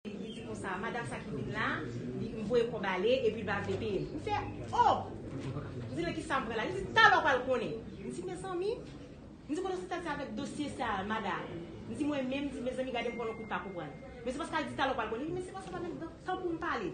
Li di konsa, Madam sa ki vin la, li voye kòb ale, epi l pa vle peye l. M fè, O! M di, men ki sa m pran la? Li di, talè w pral konnen. M di, mezanmi! M di, konnen sa ta di avèk dosye sa a, madam? M di, mwen menm, m di, mezanmi, gade m pran l on kout pa konprann. Mesye Paskal di, talè w pral konnen. Li di, mesye Paskal pa menm gen tan pou m pale.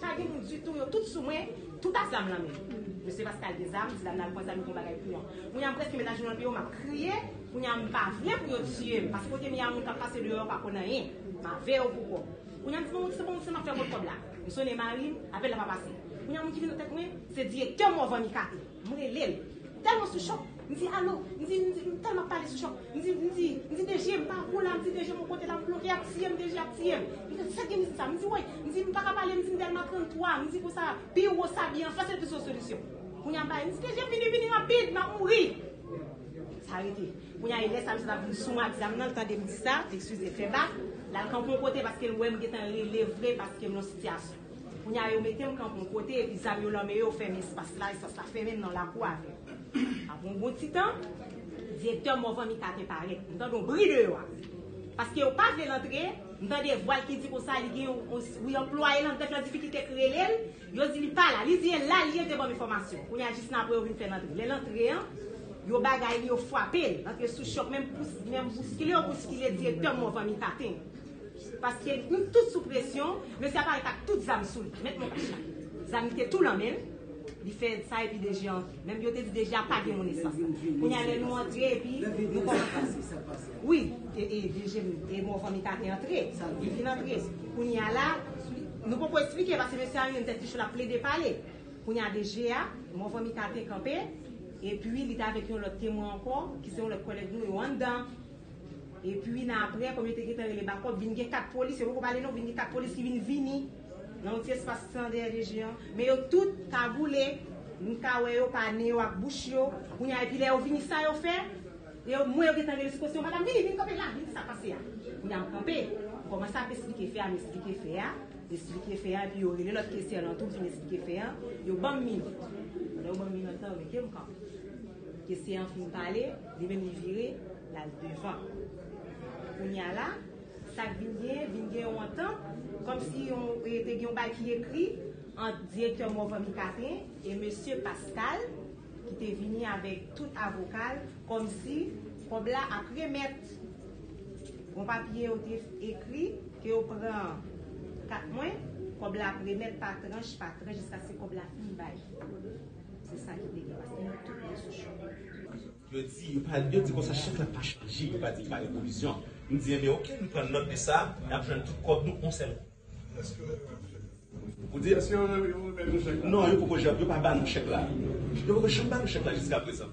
Pa gen moun ditou yo tout sou mwen tout ak zam nan men mesye pascal gen zam di la nal pwan zam li gon bagay pou yon kounya m preske met ajenou andeyo map kriye kounya m pa vle pou yo tiyem paske kote m ye a moun kap pase deyò yo pa konn anyen m avew pou kòb kounya m di bon se bon se map fè avèw kòb la m sone marim apèl la pa pase kounya moun ki vin nan tèt mwen se direktè morvan ikato. M rele l. M tèlman sou chòk. M di, Alo! M di, m di, m tèlman ap pale sou chòk. M di, m di, m di, DG, m pa pou la. M di, DG, m kote la, m bloke, y ap tiye m, DG ap tiye m. M di, sa k gen mizit sa? M di, woy! M di, m pa ka pale, m di, m Dèlma 33. M di konsa, pi wo sa byen an fè, se l ki sou solisyon. Kounye a m pale, m di, DG, vini, vini rapid, m ap mouri! Sa rete. Kounye a e lè sa misye t ap vin sou m ak zam nan, l tande m di sa, l eskize l fè bak, l al kanpe yon kote paske l wè m gentan rele vre paske m nan sitiyasyon. Kounye a yo mete m kanpe yon kote epi zam yo lan men yo fèmen espas la, espas la fèmen m nan lakou a vè. Apre yon bon ti tan, direktè Morvan Mita te parèt. M tande yon bri deyò a. Paske yo pa vle l antre, m tande vwa l ki di konsa li gen yon anplwaye lan bank lan difikilte k rele l, yo di li pa la. Li di e la l ye, te ban m enfòmasyon. Kounye a jis nan apre yo vin fè l antre. Lè l antre an, yo bagay li, yo fwape l. L antre sou chòk, menm bouskile yo bouskile direktè Morvan Mita te. Paske nou tout sou presyon, mesye a parèt ak tout zam sou li. Mèt Moncoucha. Zam li te tou lan men l. Li fè sa epi DG a antre. Menm yo te di DG a pa gen moun esans la. Kounye a lè nou antre epi nou kòmanse. Wi. E DG e Morvan Mika te antre. Yo fin antre. Kounye a la, nou poko esplike paske mesye a youn tèt li cho l ap plede pale. Kounye a DG a, Morvan Mika te kanpe. Epi li te avèk yon lòt temwen ankò ki se yon lòt kòlèg nou yo anndan. Epi nan aprè, kòm yo te gentan rele bakòp, vin gen 4 polis, yo poko pale non, vin gen 4 polis ki vin vini nan yon ti espas ki te nan dèyè DG an. Men yo tout kagoule, m ka wè yo pa ne yo ak bouch yo. Kounye a, epi lè yo vini, sa yo fè? Yo, m wè yo gentan rele sou kote yo, Madam, vini, vin kanpe la, vin ki sa k pase a? Kounye a m kanpe, m kòmanse ap esplike fè a, m esplike fè a, m esplike fè a, epi yo rele lòt kesyè lan tou, m fin esplike fè a, yo ban m minòt. Lè yo ban m minòt lan, yo mete m kanpe. Kesyè an fin pale. Li menm li vire, l al devan. Kounye a la, sa k vin genyen, vin gen yon antant, kòmsi yon, e te gen yon bagay ki ekri ant direktè Morvan Micatin e mesye Pascal, ki te vini avèk tout avoka l, kòmsi kòb la ap remèt. Bon papye yo te ekri ke yo pran kat mwen, kòb la ap remèt pa tranch, pa tranch, jiskaske kòb la fin bay. Se sa ki te gen paske nou tout te sou chòk. Yo di, yo di konsa chèk la pa chanje, yo pa di pa gen pwovizyon. M di enben ok, nou pran nòt de sa, n ap jwenn tout kòb nou on sèl kou. Èske yo remèt nou chèk la? Ou di èske yo remèt nou chèk la? Non, yo poko janm, yo pa ba nou chèk la. Yo poko janm ba nou chèk la jiskaprezan.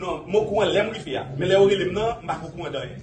Non, m okouran lè m wifi a. Men lè yo rele m nan, m pa ko kouran de anyen.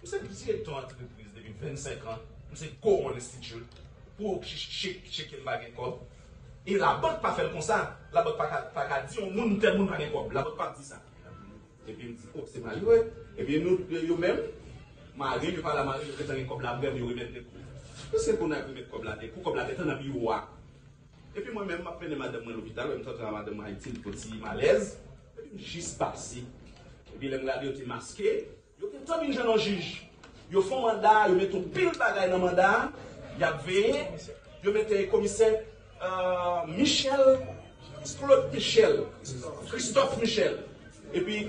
M se direktè antrepriz depi 25 an, m se Coron Institute, pou ou ki tcheke m pa gen kòb. E labank pa fè l konsa, labank pa ka di yon moun tèl moun pa gen kòb, labank pap di sa. Epi m di, oh se malere, epi nou yo menm, mare m yo pa la mare m, yo gentan gen kòb la prè m yo remèt de kou. Pwiske Conag remèt kòb la de kou, kòb la gentan nan biwo a. Epi mwen menm m ap mennen madanm mwen lopital, wè m t antre a madanm mwen Ayiti, li pran ti malèz, epi m jis pase, epi lè m gade yo te maske, Yo te tann yn jan nan jij. Yo fon manda, yo met yon pil bagay nan manda, yap veye, yo mete komisè Michel Claude Michel, Christophe Michel. Epi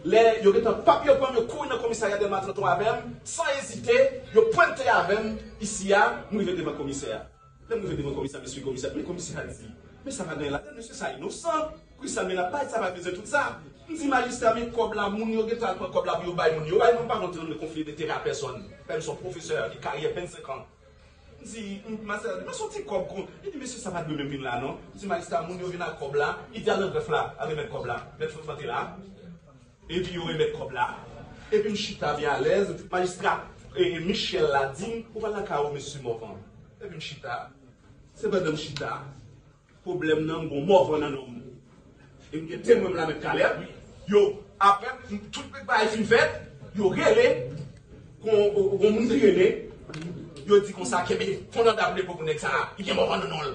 lè yo gentan pap yo pranm yo kouri nan komisarya Delma 33 avèm, san ezite yo pwente avèm isi a, m rive devan komisè a. Lèm rive devan komisè mesye komisè ap men komisè a di men sa pa gen anyen ladann mesye sa inosan poukisa men lap bay sa pa bezwen tout sa m di majistra men kòb la moun yo gentan al pran kòb la pou yo bay moun yo way mwen pa nan tren de konfli detere a pèsòn menm son pwofesè avik karyè 25 an m di majistra di men son ti kòb kon li di mesye sa pa dwe menm vin la non m di majistra moun yo vin ak kòb la li di a nan grèf la a remèt kòb la mèt Frank lan te la. Epi yo remèt kòb la. Epi m chita byen alèz. Majistra Michel la di m, Ou pa lakay ou Mesye Morvan? Epi m chita. Se pandan m chita, pwoblèm nan, m gen yon Morvan nan non m. E m gen temwen m la menm talè. Yo, apre tout bagay fin fèt, yo rele yon moun ki rele, yo di konsa, Kenbe, Fon Nòdab depo pou nèg sa a. Li gen Morvan nan non l.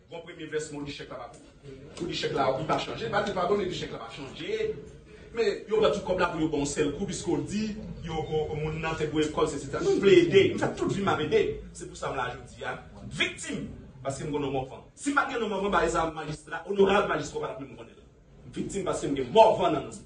Bon premye vèsman w di chèk la pa Pou di chèk la wi pa chanje Ba li padone di chèk la pa chanje Men yo pran tout kòb la pou yo ban w sèl kou Piske w di yo moun nan te bwe kòl sesi sa M vle ede M fè tout vi m ap ede Se pou sa m la jodi a Viktim Paske m gen non Morvan Si m pat gen non Morvan bagay sa majistra onorab majistra w pa tap menm konnen l Viktim paske m gen Morvan nan non m.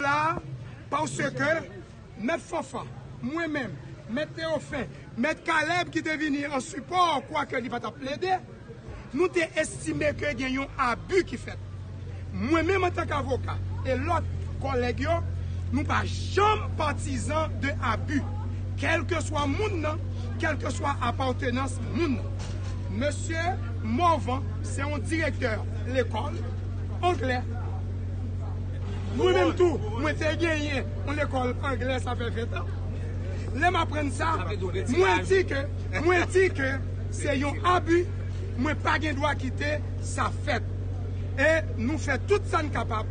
la parce que Mèt Fanfan, mwen menm, Mèt Theophin, Mèt Caleb ki te vini an sipò kwake li pa t ap plede, nou te estime ke gen yon abi ki fèt. Mwen menm antank avoka e lòt kòlèg yo, nou pa janm patizan de abi, kèlkeswa moun nan, kèlkeswa apatenans moun nan. Mesye Morvan se yon direktè lekòl. anglè. Mwen menm tou, mwen te genyen yon lekòl anglè sa fè 20 tan. Lè m aprann sa, mwen di ke, mwen di ke se yon abi, mwen pa gen dwa kite sa fèt. E nou fè tout sa n kapab.